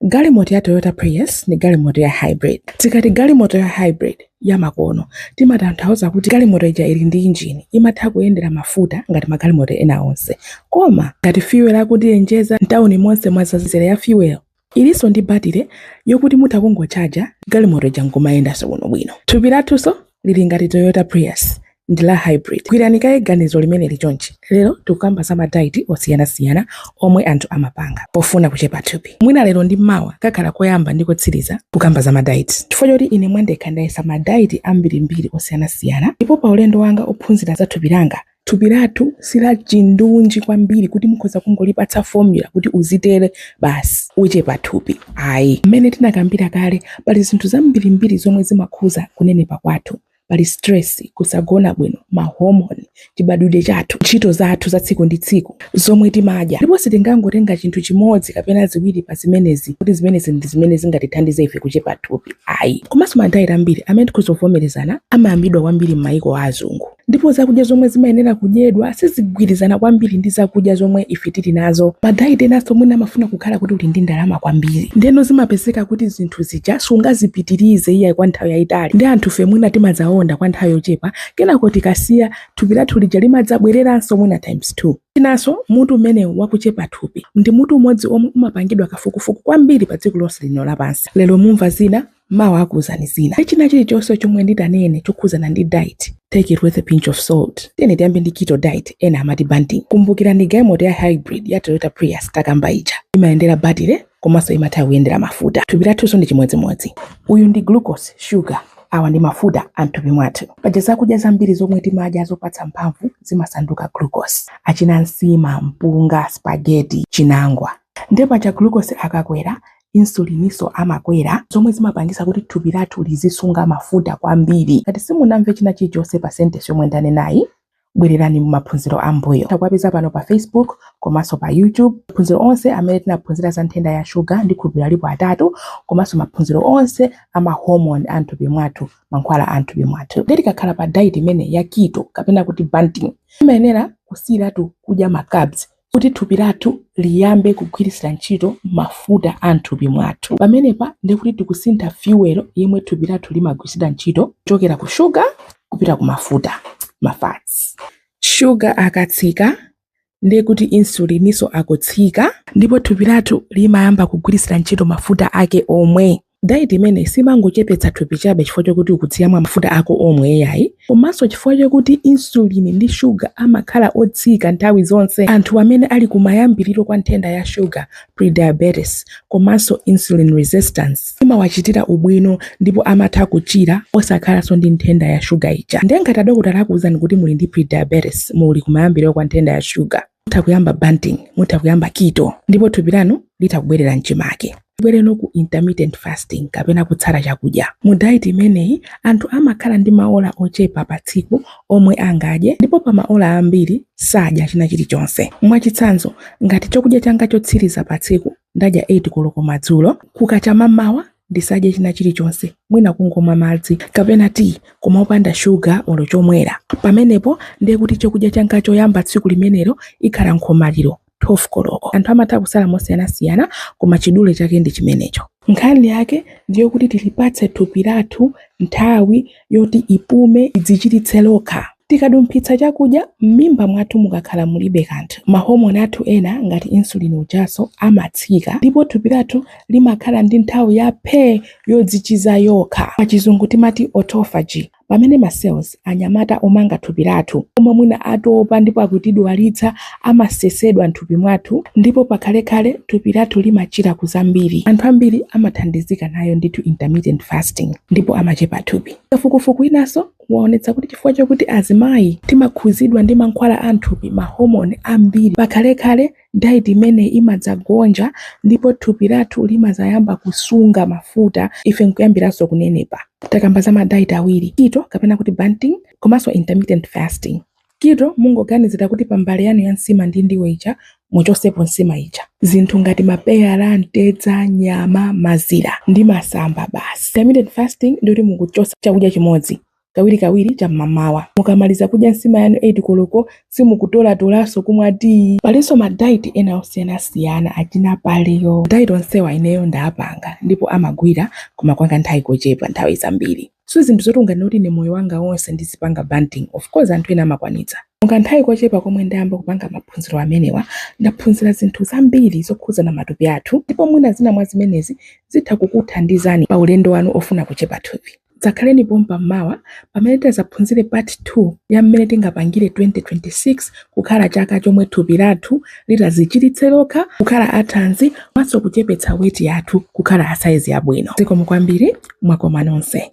Galimoto ya Toyota Prius ndi galimoto ya hybrid. Tikati galimoto ya hybrid ya makono timatanthauza kuti galimoto ija ili ndi injini imatha kuyendera mafuta ngati magalimoto ena onse, koma ngati fuel akundiyenjeza mtawuni monse mwadzadza mizere ya fuel. Ilinso ndi batire yokuti mutha kungochaja galimoto ija n'kumayendanso bwinobwino. Thupi lathunso lili ngati Toyota Prius ndi la hybrid. Gwirani kaye ganizo limeneli chonchi. Lero tikukamba za madaiti osiyanasiyana omwe anthu amapanga pofuna kuchepa thupi. Mwina lero ndi mawa kakhala koyamba ndi kotsiriza kukamba za madaiti, chifukwa choti ine mwa ndekha ndayesa madaiti ambirimbiri osiyanasiyana, ndipo pa ulendo wanga wophunzira za thupi langa Thupi lathu si lachindunji kwambiri kuti mukhoza kungolipatsa formula kuti uzitere basi uchepa thupi ayi. Mmene tinakambira kale, pali zinthu zambirimbiri zomwe zimakhuza kunenepa kwathu. Pali stress, kusagona bwino, ma hormone, chibadwidwe chathu, ntchito zathu za tsiku ndi tsiku, zomwe timadya. Ndipo sitingangotenga chinthu chimodzi kapena ziwiri pa zimenezi kuti zimenezi ndi zimene zingatithandize ife kuchepa thupi ayi. Komanso ma diet ambiri amene tikhoza kuvomerezana amayambidwa kwambiri m'mayiko a azungu. ndipo zakudya zomwe zimayenera kudyedwa sizigwirizana kwambiri ndi zakudya zomwe ife tili nazo madaiti enanso mwina amafuna kukhala kuti uli ndi ndalama kwambiri ndeno zimapezeka kuti zinthu zija sungazipitirize iyayi kwa nthawi yayitali ndi anthufe mwina timadzaonda kwa nthawi yochepa kenako tikasiya thupi lathu lija limadzabwereranso mwina times 2 chinanso mutu umenewu wakuchepa thupi ndi mutu umodzi omwe umapangidwa kafukufuku kwambiri pa dziko lonse lino lapansi lero mumva zina mawa akuuzani zina china chilichonse chomwe nditanene chokhuzana ndi diet take it with a pinch of salt tiyeni tiyambe ndi keto diet ena amati banting kumbukirani galimoto ya hybrid ya toyota prius takamba ija imayendera batire komanso imatha kuyendera mafuta thupi lathunso ndi chimodzimodzi uyu ndi glucose sugar awa ndi mafuta amthupi mwathu paja zakudya zambiri zomwe timadya zopatsa mphamvu zimasanduka glucose achina nsima mpunga spageti chinangwa nde paja glucose akakwera insulininso amakwera zomwe zimapangisa kuti thupi lathu lizisunga mafuta kwambiri ngati simunamve china chilichonse pa sentence yomwe ndanenayi bwererani mu maphunziro ambuyo mukawapeza pano pa facebook komanso pa youtube maphunziro onse amene tinaphunzira za nthenda ya shuga ndikhulupirira alipo atatu komanso maphunziro onse a mahomoni a mthupi mwathu mankhwala a mthupi mwathu nde tikakhala pa diet imeneyi ya keto kapena kuti banting imayenera kusiyiratu kudya macarbs kuti thupi lathu liyambe kugwiritsira ntchito mafuta a m'thupi mwathu. Pamenepa ndiye kuti tikusintha fuel yomwe thupi lathu limagwiritsira ntchito kuchokera ku shuga kupita ku mafuta ma fats. Shuga akatsika ndiye kuti insulininso akutsika ndipo thupi lathu limayamba kugwiritsira ntchito mafuta ake omwe. Dayiti imeneyi simangochepetsa thupi chabe chifukwa chokuti ukudya mafuta ako omwe iyayi, komanso chifukwa chokuti insulini ndi shuga amakhala otsika nthawi zonse anthu amene ali kumayambiriro kwa nthenda ya shuga, prediabetes, komanso insulin resistance imawachitira ubwino ndipo amatha kuchira osakhalanso ndi nthenda ya shuga ija. Ndiye ngati adokotala akuuzani kuti muli ndi prediabetes, muli kumayambiriro kwa nthenda ya shuga, mutha kuyamba banting mutha kuyamba keto ndipo thupi lanu litha kubwerera mchimake tibwere no ku intermittent fasting kapena kutsala chakudya mu diet imeneyi anthu amakhala ndi maola ochepa pa tsiku omwe angadye ndipo pa maola ambiri sadya china chilichonse mwachitsanzo ngati chakudya changa chotsiriza pa tsiku ndadya 8 koloko madzulo. Kukacha m'mawa ndisadye china chilichonse, mwina kungomwa madzi kapena tiyi koma opanda shuga olo chomwera. Pamenepo ndiye kuti chakudya changa choyamba tsiku limenelo ikhala nkhomaliro 12 koloko. Anthu amatha kusala mosiyanasiyana koma chidule chake ndi chimenecho. Nkhani yake ndiyokuti tilipatse thupi lathu nthawi yoti ipume idzichiritse lokha. Tikadumphitsa chakudya, m'mimba mwathu mukakhala mulibe kanthu, mahomoni athu ena ngati insulin ujanso amatsika ndipo thupi lathu limakhala ndi nthawi ya phee yodzichiza yokha, pachizungu timati autophagy. Pamene ma cells, anyamata omanga thupi lathu, omwe mwina atopa ndipo akutidwalitsa amasesedwa m'thupi mwathu ndipo pakhalekhale thupi lathu limachira ku zambiri. Anthu ambiri amathandizika nayo ndithu intermittent fasting ndipo amachepa thupi. Kafukufuku winanso umaonetsa kuti chifukwa chokuti azimayi timakhuzidwa ndi mankhwala a m'thupi, ma hormone, ambiri pakhalekhale, diet imeneyi imadzagonja ndipo thupi lathu limazayamba kusunga mafuta ife nkuyambiranso kunenepa. Takamba za ma diet awiri, keto kapena kuti banting komanso intermittent fasting. Kito mungoganizira kuti pa mbale yanu ya nsima ndi ndiwo ija muchosepo nsima ija. Zinthu ngati mapeyala, mtedza, nyama, mazira ndi masamba basi. Intermittent fasting ndiyoti mukuchosa chakudya chimodzi kawirikawiri cha m'mamawa. Mukamaliza kudya nsima yanu 8 koloko simukutolatolanso kumwa tiyi. Palinso ma diet ena osiyanasiyana achina paleo. Ma diet onsewa ineyo ndapanga ndipo amagwira koma kwa kanthawi kochepa nthawi zambiri. si zinthu zoti ungati ine moyo wanga wonse ndizipanga banting of course anthu ena amakwanitsa mukanthawi kochepa komwe ndayamba kupanga maphunziro amenewa ndaphunzira zinthu zambiri zokhudza matupi athu ndipo mwina zina mwa zimenezi zitha kukuthandizani pa ulendo wanu ofuna kuchepa thupi dzakhaleni pompa mmawa pamene tidzaphunzire part 2 ya mmene tingapangire 2026 kukhala chaka chomwe thupi lathu litazichiritse lokha kukhala athanzi komanso kuchepetsa weti yathu kukhala asaizi yabwino. Zikomo kwambiri, mwakoma nonse.